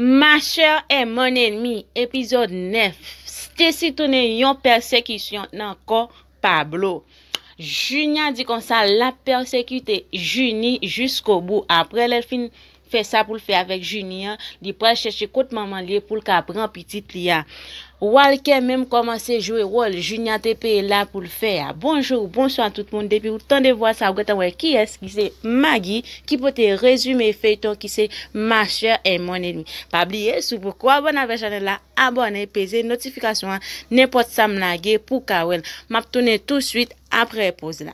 Ma Sœur est mon Ennemie, Epizòd 9 Stacy tounen yon pèsekisyon nan kò Pablo. Junia di konsa lap pèsekite Junie jiskobou. Aprè lèl fin fè sa poul fè avèk Junie an, li pral chèche kot manmanl ye poul ka pran pitit li a. Walker menm komanse jwe wol Junia te peye la poul fè a Bonjour bonswa tout moun depiw tande vwa sa ou gentan wè kiyès ki se Maggie ki pote rezime feyton ki se ma soeur et mon ennemi pa bliye si w poko abone avè chanel la abone peze notifikasyon an nenpot sam lage pou ka wèl map tounen tou swit aprè poz la.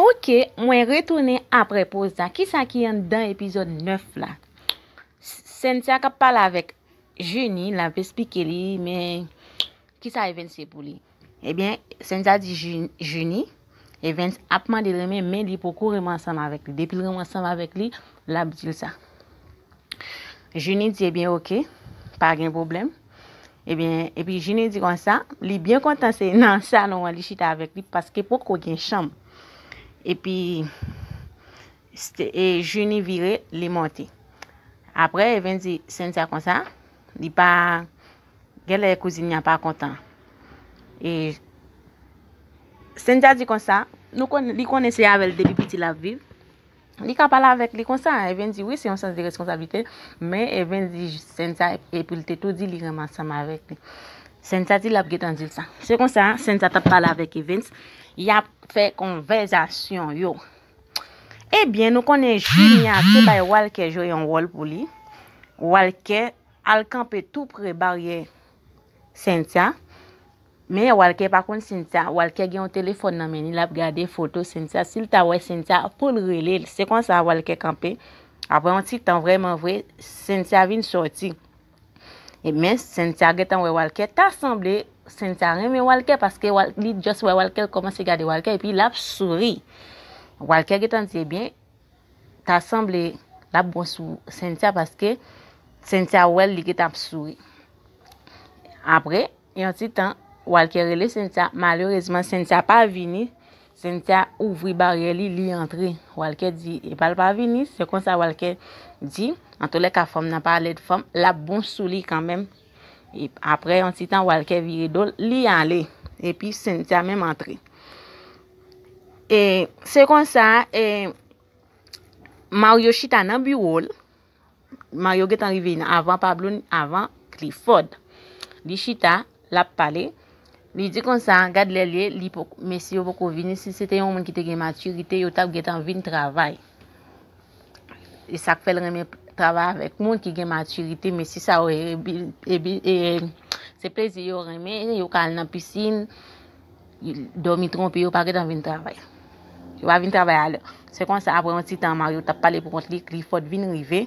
Ok mwen retounen aprè poz la kisa ki anndan epizòd 9 la Cynthia kap pale avèk Junie lap esplike li men kisa Evens ye pou li ebyen Cynthia di Junie Evens ap mande renmen men li poko renmen ansanm avèk li depil renmen ansanm avèk li lap dil sa Junie di ebyen ok pa gen problème. Ebyen, epi Jini di konsa, li byen kontan se nan salon an li chita avèk li paske poko gen chanm. Epi, e Jini vire, li monte. Apre, Even di Sentia konsa, li pa, gen lè kouzin ya pa kontan. E, Sentia di konsa, nou konnen, li konnen se avèl depi piti lap viv. Li ka pale avèk li konsa, Ervin di wi se yon sans de reskonsablite, men Ervin di Cynthia epi li te tou di li renmen ansanm avèk li. Cynthia di lap getan dil sa. Se konsa, Cynthia tap pale avèk Evens, yap fè konvèzasyon yo. Ebyen nou konnen Junia te bay Walker jwe yon wòl pou li, Walker al kanpe tou pre baryè Cynthia, Men Walker pa konn Cynthia, Walker gen yon telefòn nan men li lap gade foto Cynthia, sil ta wè Cynthia poul rele l, se konsa Walker kanpe, aprè yon ti tan vrèman vre Cynthia vin sòti, e men Cynthia gentan wè Walker, ta sanble Cynthia renmen Walker paske li just wè Walker l kòmanse gade Walker epi lap souri, Walker gentan di ebyen. ta sanble lap bon sou Cynthia paske Cynthia wèl li gentan ap souri. Apre yon ti tan Walker rele Cynthia, malerezman Cynthia pa vini, Cynthia ouvri baryè li, li antre. Walker di epal pa vini, se konsa Walker di antolèka fanm nan pa lèd fanm lap bon sou li kanmenm. E apre yon ti tan Walker vire do l, li ale. E pi Cynthia menm antre. E se kon sa, e Mario chita nan biwo l. Mario gen tan rive avan Pablo, avan Clifford. Li chita, l ap pale. Li di kon sa, gad lè l ye, li poko, mesye yo poko vini. Si se te yon moun ki te gen matirite, yo t ap gen tan vin travay. e sak fèl renmen travay avèk moun ki gen matirite mesi sa yo se plezi yo renmen yo ka al nan pisin domi tronpe yo pa gen tan vin travay yo pa vin travay alè se konsa apre yon ti tan Mario tap pale pou kont li Clifford vin rive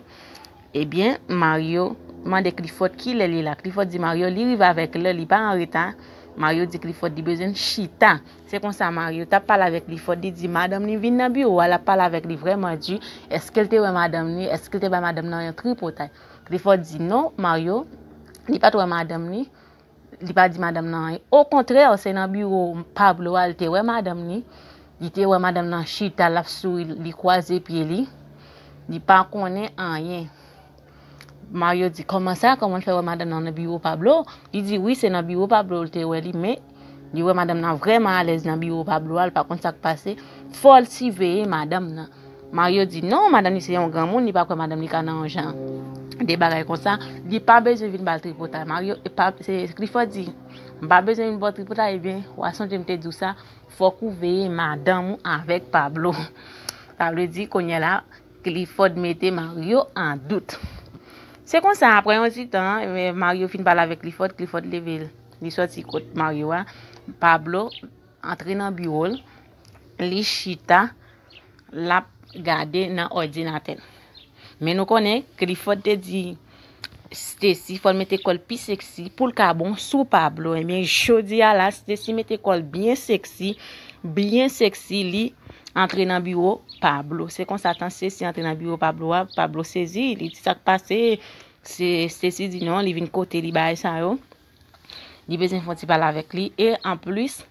ebyen Mario mande Clifford kilè li la Clifford di Mario li rive avèk lè li pa anreta Mario di Clifford li bezwen chita Se konsa mari yo t ap pale avèk li fò, li di madanm li vin nan biwo a, l ap pale avèk li vrèman di, èske l te wè madanm li, èske l te bay madanm nan yon tripotay. Klifò di non, Maryo, li pa t wè madanm li, li pa di madanm nan anyen. Okontrè, se nan biwo Pablo a l te wè madanm li, li te wè madanm nan chita, l ap souri, li kwaze pye li, li pa konnen anyen. Mario di, kòman sa, kòman'l fè wè madanm nan nan biwo Pablo? Li di wi se nan biwo Pablo li te wè li men li wè madanm nan vrèman alèz nan biwo Pablo a, li pa konn sak pase, fòl siveye madanm nan. Mario di, non madanm li se yon granmoun li pa kwè madanm li ka nan yon jan de bagay konsa, li pa bezwen vin bal tripotay. Mario, Clifford di, m pa bezwen vin baw tripotay, ebyen wa sonje m te diw sa, fòk ou veye madanm ou avèk Pablo. Sa vle di kounyela. Clifford mete Mario an dout. Se konsa, aprè yon ti tan, Mario fin pale avèk Clifford, Clifford leve l, li sòti kot Mario a, Pablo antre nan biwo l, li chita, l ap gade nan òdinatè l. Men nou konnen, Clifford te di Stacy fòl mete kòl pi sexy poul ka bon sou Pablo ebyen jodia la Stacy mete kòl byen sexy byen sexy li antre nan biwo Pablo se konsa tan Stacy antre nan biwo Pablo a Pablo sezi li di sak pase se Stacy di non li vin kote li bay sa yo li bezwen fon ti pale avèk li e an plus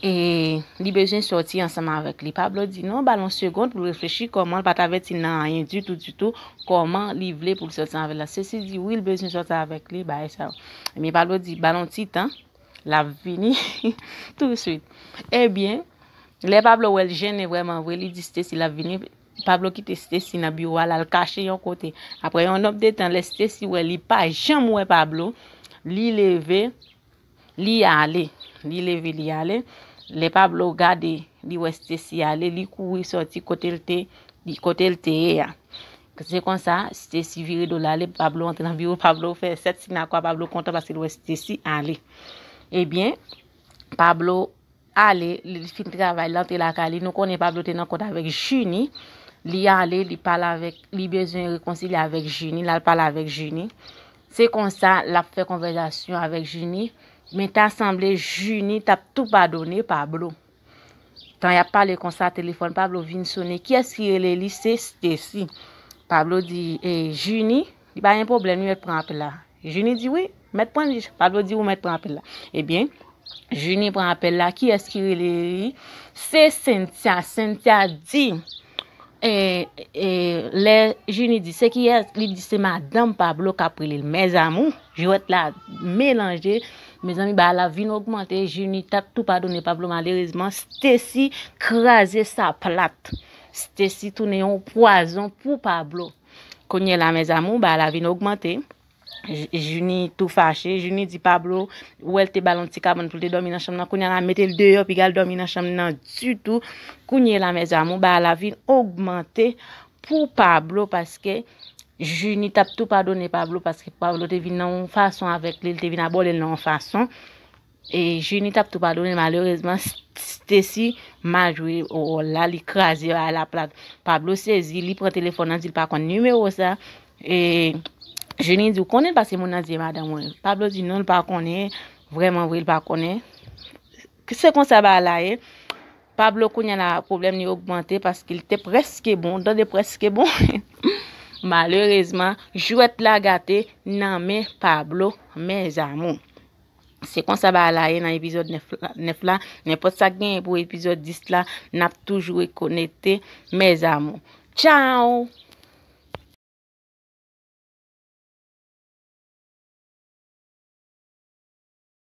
E li bezwen sòti ansanm avèk li. Pablo di non, ba l yon segond pou l reflechi kòman l pa t avèti l nan anyen ditou ditou, kòman li vle pou l sòti avèk la. Sesi di wi l bezwen sòti avèk li, bagay sa yo. Ebyen Pablo di ba l yon ti tan, l ap vini touswit. Ebyen, lè Pablo wè l jennen vrèman vre, li di Stesi l ap vini, Pablo kite Stesi nan biwo a l al kache yon kote. Aprè yon nonb de tan, lè Stesi wè li pa janm wè Pablo, li leve, Li ale. Li leve li ale. Lè Pablo gade, li wè Stesi ale, li kouri sòti kote l te, kote l te ye a. Se konsa, Stesi vire do l ale, Pablo antre nan biwo Pablo, fè sèt si nan kwa Pablo kontan paske l wè Stesi ale. Ebyen, Pablo. ale li fin travay li antre lakay li nou konnen Pablo te nan kont avèk Junie li ale li pale avèk li bezwen rekonsilye avèk Junie lal pale avèk Junie se konsa lap fè konvèzasyon avèk Junie men ta sanble Junie tap tou padone Pablo tan yap pale konsa telefòn Pablo vin sone kiyès ki rele li se Stacy Pablo di e Junie Li pa gen pwoblèm li mèt pran apèl la. Junie di wi, mèt pran li. Pablo di ou mèt pran apèl la. Ebyen, Junie pran apèl la, kiyès ki rele li? Se Cynthia, Cynthia di, e, e, lè Junie di se kiyès, li di se madanm Pablo kap rele l. Mèzamou, jwèt la melanje, mezanmi bagay la vin ogmante, Junie tap tou padone Pablo malerezman, Stacy kraze sa plat. Stacy tounen yon pwazon pou Pablo. Kounye la mes amour bagay la vin ogmante. Junie tou fache. Junie di Pablo ou wèl te bal yon ti kabann pou l te dòmi nan chanm nan. Kounye la mete l deyò pi gal dòmi nan chanm nan ditou. Kounye la mes amour bagay la vin ogmante pou Pablo paske Junie tap tou padone Pablo paske Pablo te vin nan yon fason avèk li, li te vin abòde l nan yon fason. Junie tap tou padone malerezman Stacy mal jwe ròl la li kraze yo ala plat Pablo sezi li pran telefòn nan dil pa konn numéro sa e Junie di ou konnen pase moun nan di madan mwen Pablo di non l pa konnen vrèman vre l pa konnen se konsa ba la ye Pablo kounye la problème li ogmante paske li te preske bon dan de preske bon malerezman jwèt la gate nan men Pablo mèzamou. Se konsa bagay la ye nan epizòd 9 la. Nenpòt sa k genyen pou epizòd 10 la, n ap toujou ret konekte mes amour. Tchao!